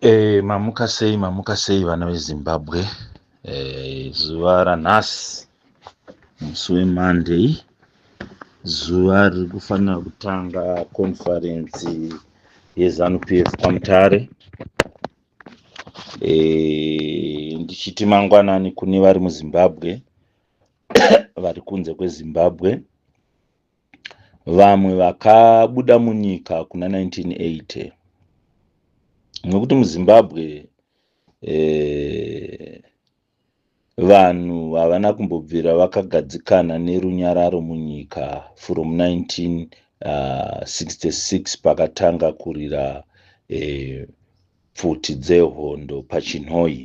E, mamuka sei mamuka sei vana vezimbabwe e, zuva ranhasi musi wemonday zuva riri kufanira kutanga konfarensi yezanu p f kwamutare e, ndichiti mangwanani kune vari muzimbabwe vari kunze kwezimbabwe vamwe vakabuda munyika kuna 1980 nokuti muzimbabwe eh, vanhu havana kumbobvira vakagadzikana nerunyararo munyika from 1966 ah, pakatanga kurira eh, pfuti dzehondo pachinhoyi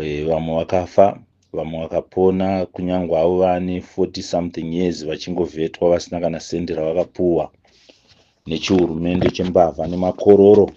Eh, vamwe vakafa vamwe vakapona kunyangwe avo vane 40 something years vachingovhetwa vasina kana sendi ravakapuwa nechihurumende chembavha nemakororo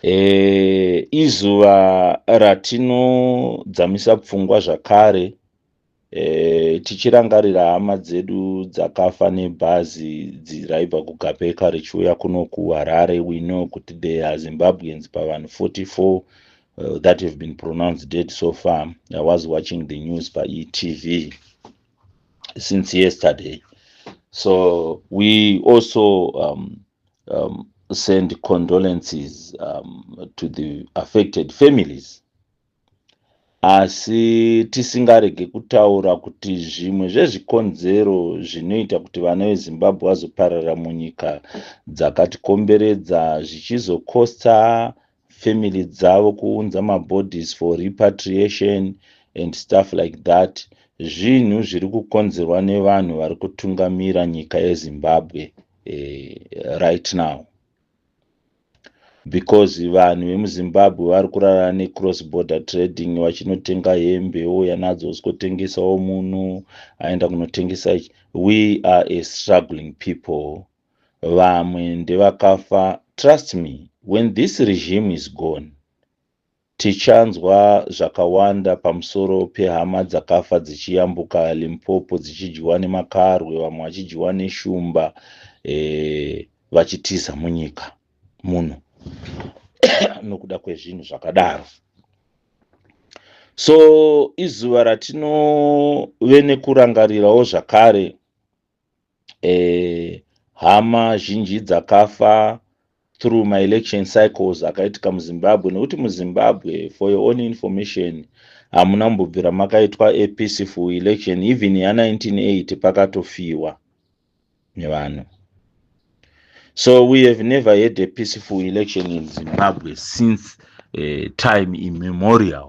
e, izuva ratinodzamisa pfungwa zvakare E, tichirangarira hama dzedu dzakafa nebhazi raibva kugapeka richiuya kuno kuharare we know kuti there are zimbabweans pavanhu 44 uh, that have been pronounced dead so far i was watching the news paetv since yesterday so we also um, um, send condolences um, to the affected families Asi tisingarege kutaura kuti zvimwe zvezvikonzero zvinoita kuti vana veZimbabwe vazopararira munyika dzakatikomberedza zvichizokosta family dzavo kuunza mabodies for repatriation and stuff like that zvinhu zviri kukonzerwa nevanhu vari kutungamira nyika yezimbabwe eh, right now because vanhu vemuzimbabwe vari kurara necross border trading vachinotenga hembe ouya nadzo zvikotengesawo muno aenda kunotengesa ichi we are a struggling people vamwe ndevakafa trust me when this regime is gone Tichanzwa zvakawanda pamusoro pehama dzakafa dzichiyambuka Limpopo dzichidyiwa nemakarwe vamwe vachidyiwa neshumba e, vachitiza munyika muno nokuda kwezvinhu zvakadaro. So izuva ratinove nekurangarirawo zvakare eh, hama zhinji dzakafa through my election cycles akaitika muzimbabwe nekuti muzimbabwe for your own information hamuna mbobvira makaitwa a peaceful election even ya 1980 pakatofiwa nevanhu so we have never had a peaceful election in zimbabwe since uh, time immemorial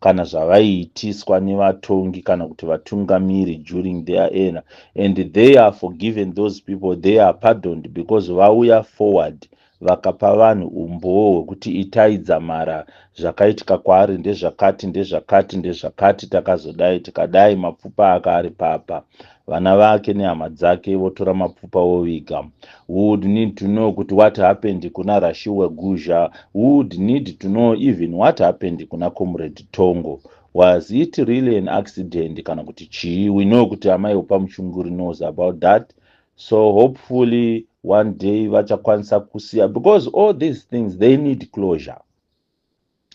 kana zvavaiitiswa nevatongi kana kuti vatungamiri during their era and they are forgiven those people they are pardoned because vauya forward vakapa vanhu umbowo hwekuti itai dzamara zvakaitika kwaari ndezvakati ndezvakati ndezvakati takazodai tikadai mapfupa aka ari papa vana vake nehama dzake votora mapfupa voviga we would need to know kuti what happened kuna rashiwe guzha we would need to know even what happened kuna comrade tongo was it really an accident kana kuti chii we know kuti amai upa muchunguri knows about that so hopefully one day vachakwanisa kusiya because all these things they need closure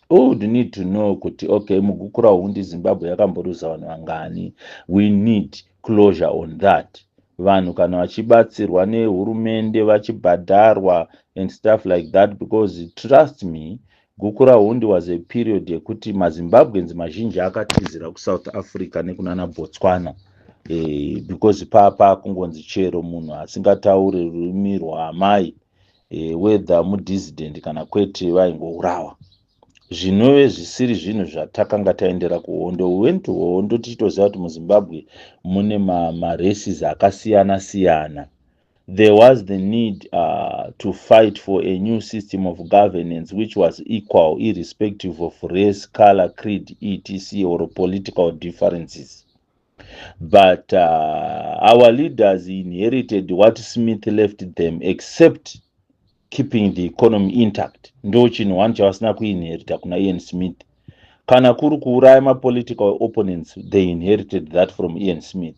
u would need to know kuti okay mugukura hundi zimbabwe yakamboruza vanhu vangani we need closure on that vanhu kana vachibatsirwa nehurumende vachibhadharwa and stuff like that because trust me gukura hundi was a period yekuti mazimbabweans mazhinji akatizira kusouth africa nekunana botswana e, because papa kungonzi chero munhu asingatauri rurimi rwaamai e, whether mudissident kana kwete vaingourawa zvinove zvisiri zvinhu zvatakanga taendera kuhondo we went to hondo tichitoziva kuti muzimbabwe mune maraces ma akasiyana siyana there was the need uh, to fight for a new system of governance which was equal irrespective of race color creed etc or political differences but uh, our leaders inherited what smith left them except keeping the economy intact ndo chinhu one chavasina kuinherita kuna ian smith kana kuri kuuraya mapolitical opponents they inherited that from ian smith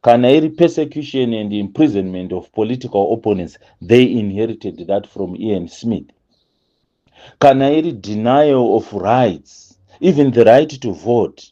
kana iri persecution and imprisonment of political opponents they inherited that from ian smith kana iri denial of rights even the right to vote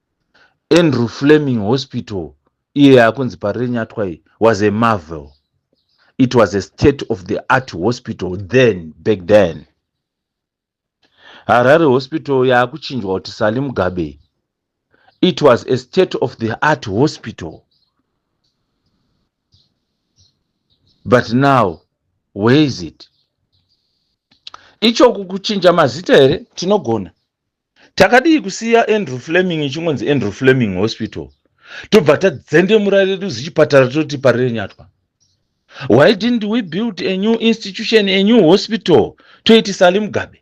andrew fleming hospital iye yakunzi parirenyatwa iyi was a marvel it was a state of the art hospital then back then harare hospital yakuchinjwa kuti sali mugabe it was a state of the art hospital but now where is it ichoku kuchinja mazita here tinogona Takadii kusiya Andrew Fleming ichingonzi Andrew Fleming Hospital tobva tadzendemura redu zichipatara toti parirenyatwa. Why didn't we build a new institution, a new hospital toiti Sally Mugabe?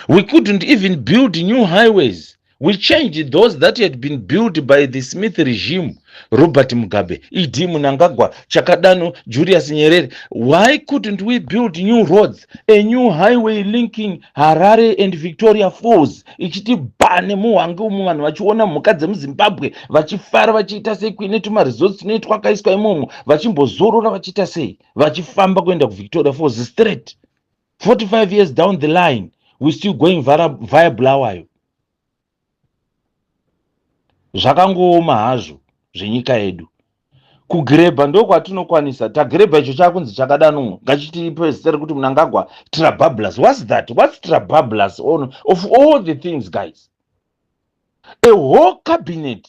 We couldn't even build new highways. We changed those that had been built by the Smith regime Robert Mugabe, ED Munangagwa, Chakadano, Julius Nyerere. Why couldn't we build new roads, a new highway linking Harare and Victoria Falls? Ichiti bha nemuhwange umu vanhu vachiona mhuka dzemuZimbabwe vachifara vachiita sei kuine tuma resorts tune twakaiswa imomo vachimbozorora vachiita sei vachifamba kuenda kuVictoria Falls straight 45 years down the line we still going via Bulawayo. zvakangooma hazvo zvenyika yedu kugirebha ndokwatinokwanisa tagirebha icho chakunzi chakadano ngachitipe zita rekuti munangagwa trabablas whats that whats trabablas on of all the things guys a whole cabinet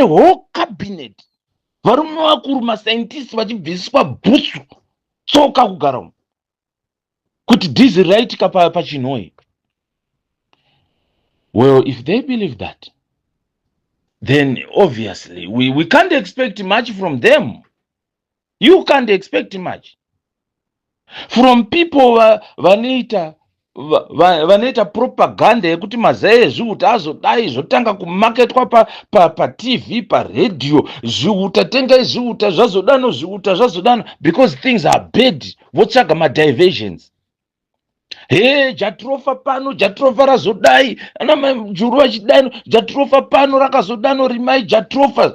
a whole cabinet varume vakuru mascientist vachibvisiswa bhutsu so kakugara umu kuti dizi raitika pachinhoi well if they believe that then obviously we, we can't expect much from them you can't expect much from people vanoita vanoita propaganda yekuti mazai ezviuta azodai zvotanga kumaketwa patv paradio zviuta tengai zviuta zvazodano zviuta zvazodano because things are bad votsvaga madiversions he jatirofa pano jatirofa razodai anamajuru vachidano jatirofa pano rakazodano rimai jatirofa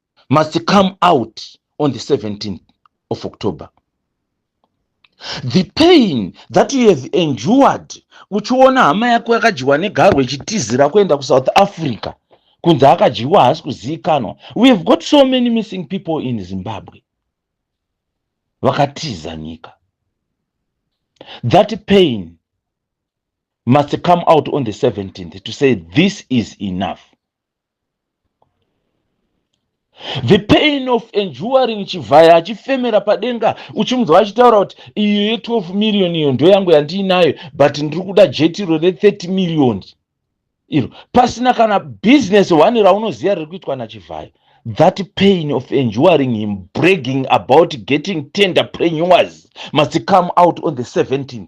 must come out on the 17th of october the pain that you have endured uchiona hama yako yakadyiwa negarwe ichitizira kuenda kusouth africa kunzi akadyiwa haasi kuzivikanwa we have got so many missing people in zimbabwe vakatiza nyika that pain must come out on the 17th to say this is enough the pain of enduring chivhaya achifemera padenga uchimunzwa achitaura kuti iyo ye12 million iyo ndo yangu yandiinayo but ndiri kuda jetiro re30 million iro pasina kana business one raunoziva riri kuitwa nachivhaya that pain of enduring him bragging about getting tender prenewers must come out on the 17th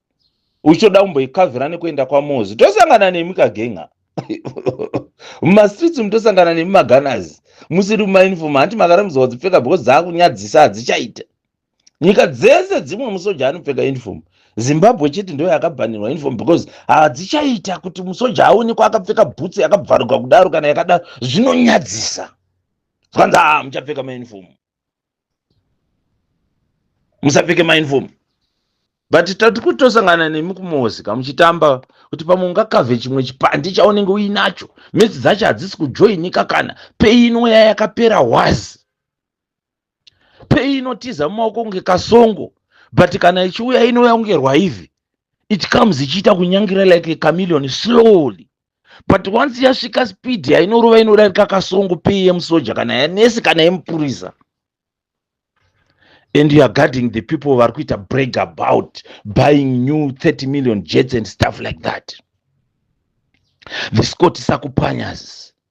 uchitoda kumboikavhira nekuenda kwamozi tosangana nemi kagenga mumastreets mutosangana nemi maganazi musiri mumainifom hanti makarambidzawa dzipfeka because dzakunyadzisa hadzichaita nyika dzese dzimwe musoja anopfeka uniform zimbabwe chete ndo yakabhanirwa uniform because hadzichaita kuti musoja aonekwa akapfeka bhutsi yakabvaruka kudaro kana yakadaro zvinonyadzisa zvanzi a ah, muchapfeka mauniform musapfeke mainfom but tati kuti tosangana nemi kumosika muchitamba kuti pamwe ungakavhe chimwe chipandi chaunenge uinacho mesi dzacho hadzisi kujoinika kana peino ya yakapera wazi peinotiza mumaoko kunge kasongo but kana ichiuya inouya kunge rwaivhi it comes ichiita kunyangira like a chameleon slowly but once yasvika speed yainorova inodarika kasongo pei yemusoja kana yanesi kana yemupurisa and youare guarding the people vari kuita break about buying new 30 million jets and stuff like that the scott sakupanyas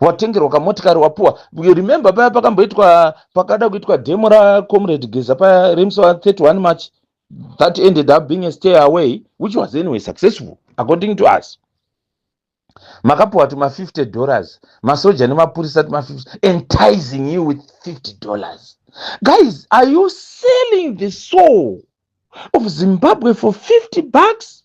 watengerwa kamotikari wapuwa remember paya pakamboitwa pakada kuitwa demo racomrade geza paya remusi wa 31 march that ended up being a stay away which was anyway successful according to us makapuwa tuma 50 dollars masoja nemapurisa tuma 50 enticing you with 50 dollars guys are you selling the soul of zimbabwe for 50 bucks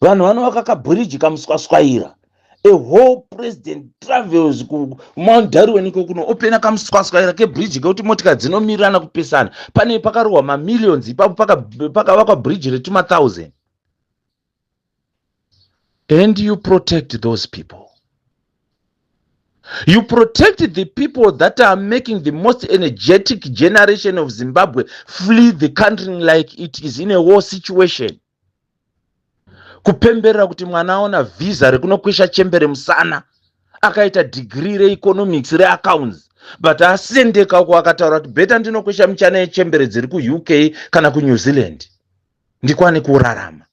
vanhu vanovaka kabhiriji kamuswaswaira a whole president travels kumount darwin iko kuno opena kamuswaswaira kebhiriji kekuti motikari dzinomirirana kupesana pane pakarohwa mamillions ipapo pakavakwa bhiriji retumathousand and you protect those people you protect the people that are making the most energetic generation of zimbabwe flee the country like it is in a war situation kupemberera kuti mwana aona vhiza rekunokwesha chembere musana akaita dhigiri reeconomics reaccounts but asendeka uko akataura kuti beta ndinokwesha michana yechembere dziri kuuk kana kunew zealand ndikwane kurarama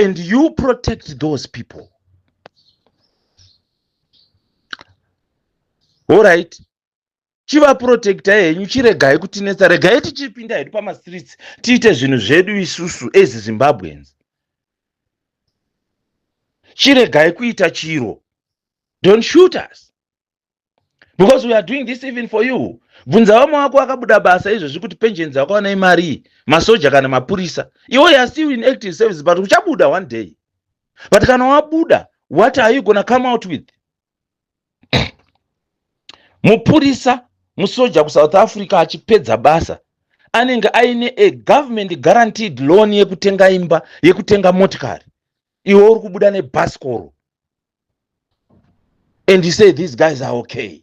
and you protect those people allright chivaprotectai henyu chiregai kutinetsa regai tichipinda hedu pamastreets tiite zvinhu zvedu isusu as zimbabweans chiregai kuita chiro don't shoot us because we are doing this even for you bvunza vamwe wako vakabuda basa izvezvi kuti pensions yako vanai marii masoja kana mapurisa iwo ya still in active service but uchabuda one day but kana wabuda what are you gona come out with mupurisa musoja kusouth africa achipedza basa anenge aine a government guaranteed loan yekutenga imba yekutenga motikari iwe uri kubuda nebhasikoro and you say these guys are okay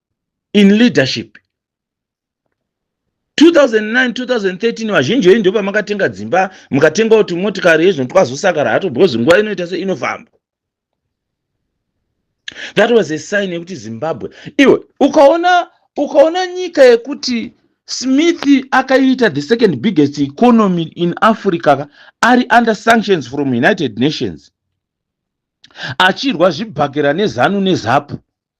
in leadership 2009 2013 vazhinji venyu ndo pamakatenga dzimba mukatengawo tumotikari yezvino twazosakara hato because nguva inoita se inofamba that was a sign yekuti zimbabwe iwe ukaona ukaona nyika yekuti smith akaita the second biggest economy in africa ari under sanctions from united nations achirwa zvibhakera nezanu nezapu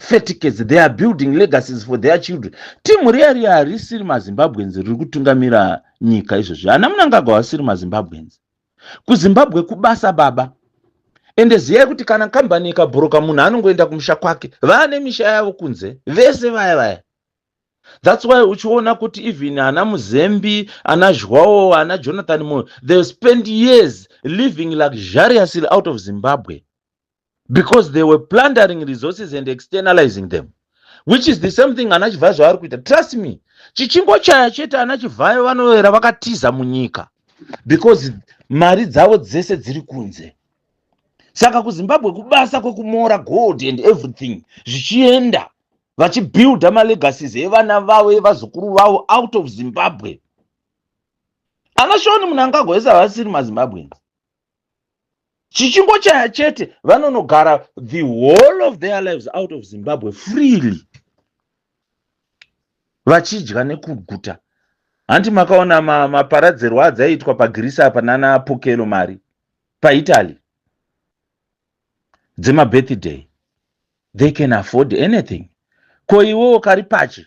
feticates they are building legacies for their children timu riya riya harisiri mazimbabweans riri kutungamira nyika izvozvi hana munangagwa vasiri mazimbabweans kuzimbabwe kubasa baba ende ziyai kuti kana kambani ikabhuruka munhu anongoenda kumusha kwake vaane misha yavo kunze vese vaya vaya thats why uchiona kuti even ana muzembi ana zhwawo ana jonathan moyo they spend years living luxuriously out of zimbabwe because they were plundering resources and externalizing them which is the same thing ana chivhayo zvavari kuita trust me chichingo chaya chete ana chivhayo vanoyera vakatiza munyika because mari dzavo dzese dziri kunze saka kuzimbabwe kubasa kwekumora gold and everything zvichienda vachibuilda malegacies evana vavo evazukuru vavo out of zimbabwe anashoni munangagwa ese havasiri mazimbabweans chichingochaya chete vanonogara the whole of their lives out of zimbabwe freely vachidya nekuguta hanti makaona maparadzerwo ma adzaiitwa pagirisi apa nana pokelo mari paitaly dzemabirthday they can afford anything ko iwewo kari pachi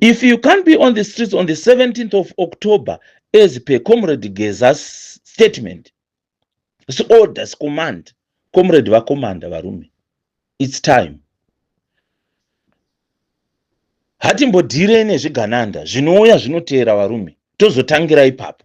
If you can't be on the streets on the 17th of October as per Comrade Geza's statement, it's orders, command, Comrade va commander varume, it's time. Hatimbodhire nezvigananda zvinouya zvinoteera varume, tozotangira ipapo.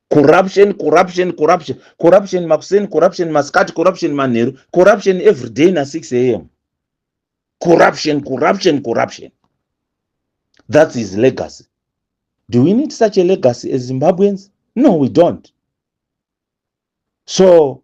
corruption corruption corruption corruption makuseni corruption masikati corruption manheru corruption every day na 6 am corruption corruption corruption that's his legacy do we need such a legacy as zimbabweans no we don't so